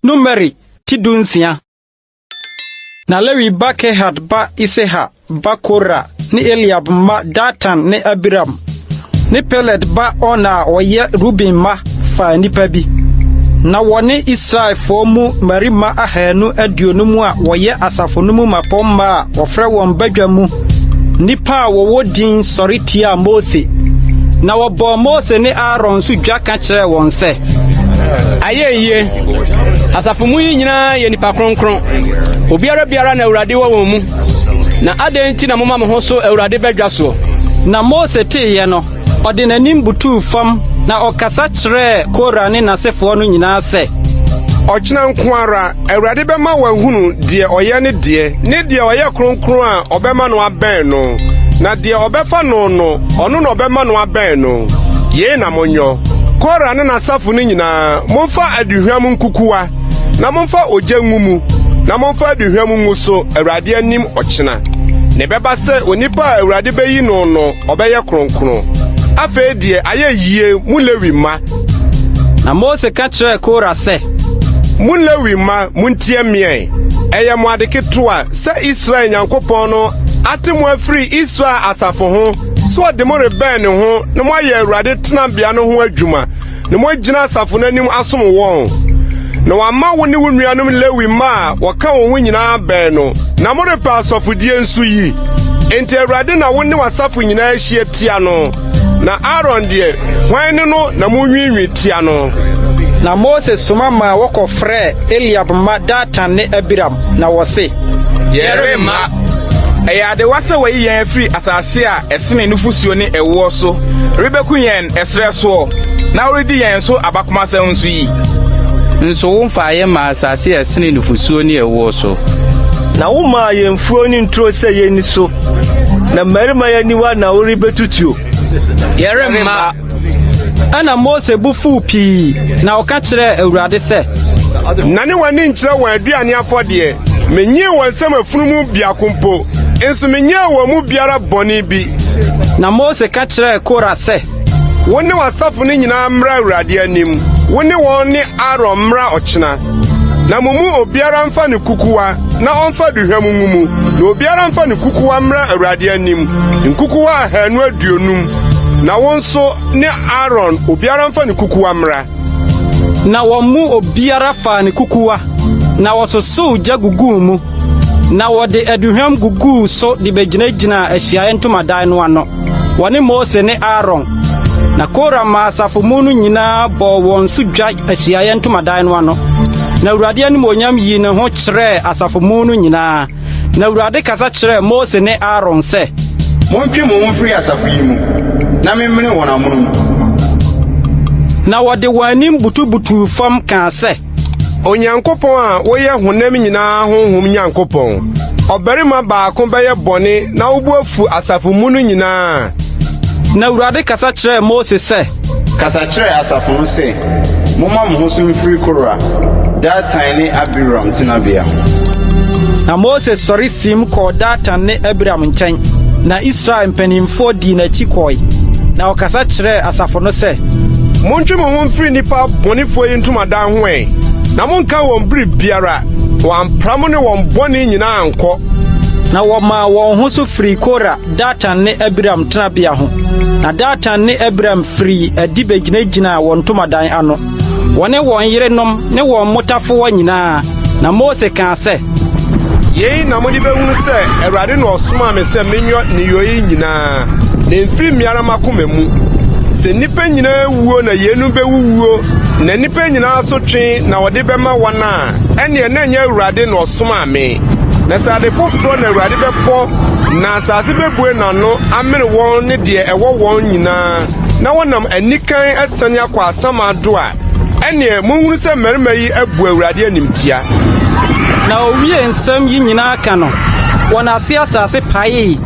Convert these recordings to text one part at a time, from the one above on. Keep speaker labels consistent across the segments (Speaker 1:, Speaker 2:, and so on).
Speaker 1: Numeri ti dunsia. Na Lewi ba Kehat ba Iseha ba Kora ne Eliab mma Datan ne Abiram ne Peled ba Ona a ɔyɛ Ruben mma faa nnipa bi. Ná wɔne Israelfoɔ mu mmarima ahanu aduonum a wɔyɛ asafo no mu mmapɔmma a wɔfrɛ wɔn badwa mu nnipa a wɔwɔ din sɔre tiaa Mose, na wɔbɔɔ Mose ne Aaron nso dwa ka kyerɛɛ wɔn sɛ, Ayɛ
Speaker 2: yie! Asafo mu yi nyinaa yɛ nnipa kronkron, obiara biara na Awurade wɔ wɔn mu, na adɛn nti na moma mo ho so Awurade badwa soɔ? Na Mose
Speaker 1: teeɛ no, Ɔde n'anim butuu fam na ɔkasa kyerɛɛ Kora ne n'asefoɔ no nyinaa sɛ. Ɔkyena
Speaker 3: nko ara, Awurade bɛma wɔahunu deɛ ɔyɛ ne deɛ, ne deɛ ɔyɛ kronkron a ɔbɛma no abɛn no, na deɛ ɔbɛfa no no, ɔno na ɔbɛma no abɛn no. Yei na monyɔ. Kora ne n'asafo no nyinaa, momfa aduhwam nkukuwa, na momfa ogya ngu mu, na momfa aduhwam ngu so Awurade anim ɔkyena. Na ɛbɛba sɛ onipa a Awurade bɛyi no no ɔbɛyɛ kronkron. Afei deɛ ayɛ yie, mo Lewi mma! Na
Speaker 1: Mose ka kyerɛɛ Kora sɛ. Mo Lewi
Speaker 3: mma, montie meɛn! Ɛyɛ mo ade ketewa sɛ Israel Nyankopɔn no ate mo afiri Israel asafo ho sɛ ɔde mo rebɛn ne ho na moayɛ Awurade tenabea no ho adwuma. na moagyina asafo no anim asom wɔn, na wɔama wo ne wo nuanom Lewi mma a wɔka wo ho nyinaa bɛn no, na morepɛ asɔfodie nso yi. Enti Awurade na wo ne w'asafo nyinaa ahyia tia no, na Aaron deɛ, hwan ne no na monwiinwii tia no? Na Mose
Speaker 1: soma maa wɔkɔfrɛɛ Eliab mma Datan ne Abiram, na wɔse, Yɛremma!
Speaker 4: Ɛyɛ adewa sɛ wɔayi yɛn afiri asase a ɛsene nufosuo ne ɛwoɔ so rebɛku yɛn ɛserɛ soɔ, na woredi yɛn so abakomasɛm nso yi? Nso
Speaker 5: womfaa yɛn mmaa asase a ɛsene nufosuo ne ɛwoɔ so. Na womaa
Speaker 6: yɛn mfuo ne nturo sɛ yɛnni so, na mmarima yɛ aniwa na worebetutuo. Yɛremma.
Speaker 5: Ɛna
Speaker 1: Mose bo fuw pii, na ɔka kyerɛɛ Awurade sɛ. Nane
Speaker 3: w'ani nkyerɛ wɔn aduane afɔdeɛ. Menyee wɔn nsam afunumu biako mpo, nso menyɛɛ wɔn mu biara bɔne bi. Na Mose
Speaker 1: ka kyerɛɛ Kora sɛ. Wo ne w'asafo
Speaker 3: no nyinaa mmra Awurade anim, wo ne wɔn ne Aaron mmra ɔkyena. Na mo mu obiara mfa ne kukuwa na ɔmfa aduhwam ngu mu, na obiara mfa ne kukuwa mmra Awurade anim, nkukuwa ahanu aduonum. Na wo nso ne Aaron, obiara mfa ne kukuwa mmra. Na
Speaker 1: wɔn mu obiara faa ne kukuwa, na wɔsosoo gya guguu mu. Na wɔde aduhwam guguu so de begyinagyinaa ahyiaeɛ ntomadan no ano, wɔne Mose ne Aaron. Na Kora maa asafo mu no nyinaa bɔɔ wɔn so dwa ahyiaeɛ ntomadan no ano. Na Awurade animuonyam yii ne ho kyerɛɛ asafo mu no nyinaa. Na Awurade kasa kyerɛɛ Mose ne Aaron sɛ. Montwe mo ho
Speaker 7: mfiri asafo yi mu na memmene wɔn amonom.
Speaker 1: Na wɔde wɔn anim butubutuu fam kaa sɛ. Onyankopɔn
Speaker 3: a woyɛ honam nyinaa honhom Nyankopɔn. Ɔbarima baako bɛyɛ bɔne na wo bo afu asafo mu no nyinaa a. Na
Speaker 1: Awurade kasa kyerɛɛ Mose sɛ. Kasa kyerɛ
Speaker 7: asafo no sɛ, 'Momma mo ho so mfiri Kora, Datan ne Abiram tenabea ho.
Speaker 1: Na Mose sɔre siim kɔɔ Datan ne Abiram nkyɛn, na Israel mpanimfoɔ dii n'akyi kɔe, na ɔkasa kyerɛɛ. asafo no sɛ, Montwe mo ho
Speaker 3: mfiri nnipa bɔnefoɔ yi ntomadan ho ɛ, na monnka wɔn biribiara, wɔampra mo ne wɔn bɔne nyinaa ankɔ. Na wɔmaa
Speaker 1: wɔn ho so firii Kora, Datan ne Abiram tenabea ho, na Datan ne Abiram firii adi begyinagyinaa wɔn ntomadan ano. wɔne wɔn yerenom ne wɔn mmotafoɔ nyinaa. Na Mose kaa sɛ. Yei
Speaker 3: na mode bɛhunu sɛ Awurade na ɔsomaa me sɛ menyɔ nneyɔeɛ nyinaa, na ɛmfiri me ara m'akoma mu. Sɛ nnipa nyinaa wuo na yeinom bɛwuwuo, na nnipa nyinaa asotwe na wɔde bɛma wɔn a, ɛnneɛ na ɛnyɛ Awurade na ɔsomaa me. Na sɛ ade foforɔ na Awurade bɛbɔ, na asase bɛbue n'ano amene wɔn ne deɛ ɛwɔ wɔn nyinaa. na wɔnam anikan asiane akɔ asamando a, ɛnneɛ monhunu sɛ mmarima yi abu Awurade animtia. Na
Speaker 1: owiee nsɛm yi nyinaa ka no, wɔn ase asase paee,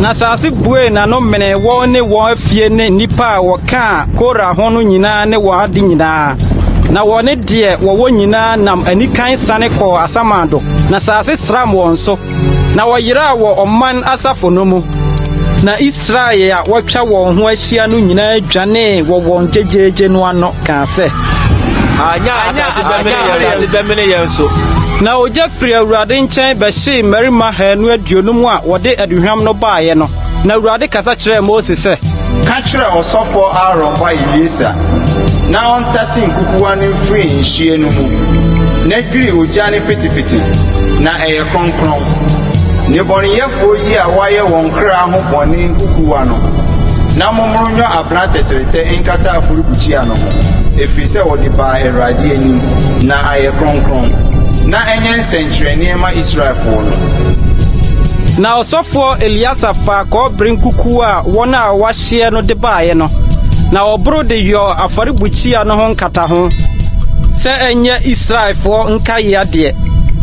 Speaker 1: na asase buee n'ano menee wɔn ne wɔn afie ne nnipa a wɔkaa Kora ho no nyinaa ne wɔn ade nyinaa, na wɔne deɛ wɔwɔ nyinaa nam anikan siane kɔɔ asamando, na asase sram wɔn so. Na wɔyeraa wɔ ɔman asafo no mu, na Israel a wɔatwa wɔn ho ahyia no nyinaa dwanee wɔ wɔn gyegyeegye no ano kaa sɛ, Anya
Speaker 6: asase bɛmene yɛn so. Na ogya
Speaker 1: firi Awurade nkyɛn bɛhyee mmarima haanu aduonum a wɔde aduhwam no baeɛ no. Na Awurade kasa kyerɛɛ Mose sɛ. Ka kyerɛ
Speaker 7: ɔsɔfoɔ Aaron ba Eleasa na ɔntase nkukuwa no mfiri nhyeɛ no mu na dwiri ogya no petepete, na ɛyɛ kronkron. Nnebɔneyɛfoɔ yi a wɔayɛ wɔn kra ho bɔne nkukuwa no, na mommoro nyɔ abena tɛtrɛtɛ nkata afɔrebukyia no ho, ɛfiri sɛ wɔde baa Awurade anim, na ayɛ kronkron. Na ɛnyɛ sɛnkyerɛnneɛ ma Israelfoɔ no.
Speaker 1: Na ɔsɔfoɔ Eleasar faa kɔbere nkukuo a wɔn a wɔahyeɛ no de baeɛ no, na ɔboro de yɔɔ afɔrebukyia no ho nkataho, sɛ ɛnyɛ Israelfoɔ nkaeɛ adeɛ,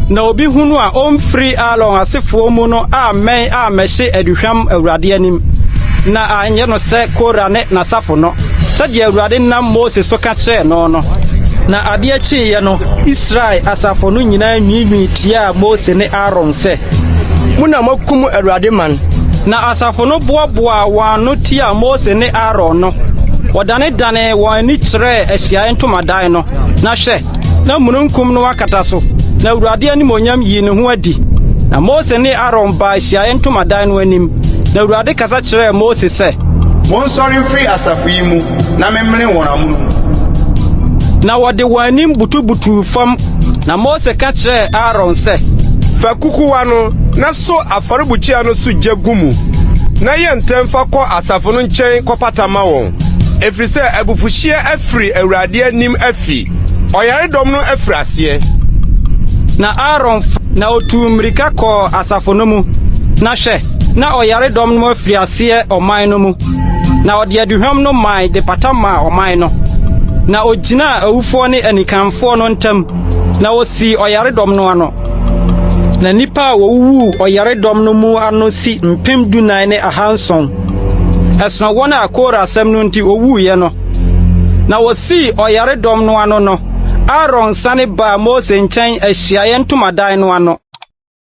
Speaker 1: na obi hunu a ɔmfiri Aaron asefoɔ mu no ammɛn ammɛhye aduhwam Awurade anim, na anyɛ no sɛ Kora ne n'asafo no, sɛdeɛ Awurade nam Mose so ka kyerɛɛ no no. Na adeɛ kyeeɛ no, Israel asafo no nyinaa nwiinwii tiaa Mose ne Aaron sɛ, Mo na moakum
Speaker 2: Awurade man! Na asafo no
Speaker 1: boaboaa wɔn ano tiaa Mose ne Aaron no. Wɔdanedanee wɔn ani kyerɛɛ ahyiae ntomadan no, na hwɛ! na mununkum no akata so, na Awurade animuonyam yii ne ho adi. Na Mose ne Aaron baa ahyiae ntomadan no anim, na Awurade kasa kyerɛɛ Mose sɛ. Monsɔre mfiri
Speaker 7: asafo yi mu, na memmene wɔn amonom.
Speaker 1: Na wɔde wɔn anim butubutuu fam. Na Mose ka kyerɛɛ Aaron sɛ. Fa kukuwa
Speaker 3: no na so afɔrebukyia no so gya gu mu, na yɛ ntɛm fa kɔ asafo no nkyɛn kɔpata ma wɔn, ɛfiri sɛ abufuhyeɛ afiri Awurade anim afi. Ɔyaredɔm no afiri aseɛ. Na
Speaker 1: Aaron fa. Na ɔtuu mmirika kɔɔ asafo no mu, na hwɛ, na ɔyaredɔm no afiri aseɛ ɔman no mu. Na ɔde aduhwam no mae de pata maa ɔman no. Na ogyinaa awufoɔ ne anikanfoɔ no ntam, na osii ɔyaredɔm no ano. Na nnipa a wɔwuwuu ɔyaredɔm no mu ano si mpem dunan ne ahanson. Ɛsono wɔn a Kora asɛm no nti wɔwuiɛ no. Na wɔsii ɔyaredɔm no ano no, Aaron sane baa Mose nkyɛn ahyiaeɛ ntomadan no ano.